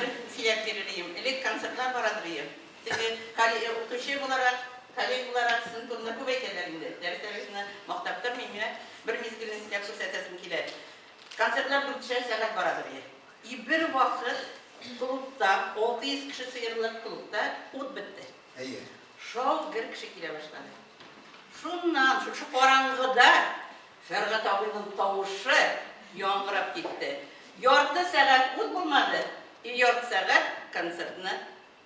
Бер сөйләп бирелием, элек концертлар барадыр ием. Теге кали укучы буларак, калей буларак сезнең турында күп әйтәләр инде. Дәресләрегезне мактап тормыйм, менә бер мизгелне сезгә күрсәтәсем килә. Концертлар дүртешәр сәгать барадыр ие. И бер вакыт клубта, 600 кеше сыерлык клубта ут бетте. Әйе. Шау гөр кеше килә башлады. Шуннан, шушы караңгыда Фәргать абыйның тавышы яңгырап китте. Ярты сәгать ут булмады, и ярты сәгать концертны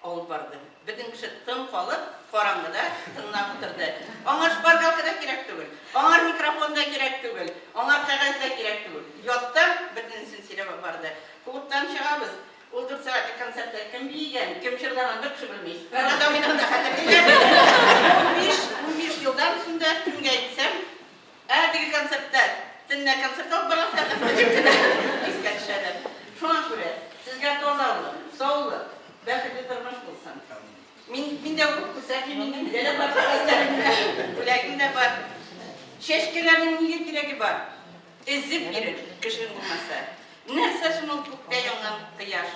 алып барды. Бөтен кеше тын калып, караңгыда тыңлап утырды. Аңа шпаргалка да кирәк түгел, аңар микрофон да кирәк түгел, аңар кәгазь дә кирәк түгел. Яттан бөтенесен сөйләп барды. Клубтан чыгабыз, ул дүрт сәгатьлек концертта кем биегән, кем җырлаган, бер кеше белми. Фәргать абыйның да хәтере китә. Унбиш, унбиш елдан соң да, кемгә әйтсәм, Әлеге концертлар төнлә концерт алып барасы аркасында бик кенә искә төшәләр. Шуңа күрә сезгә тазалы, саулы, бәхетле тормыш булсын. Мин, мин дә укып күрсәтмим инде, миндә дә бар хәвәсләрем дә, бүләгем дә бар. Чәчкәләрнең нигә кирәге бар? Эзеп йөрер, кешең булмаса. Нәрсә соң ул күктә янган кояш?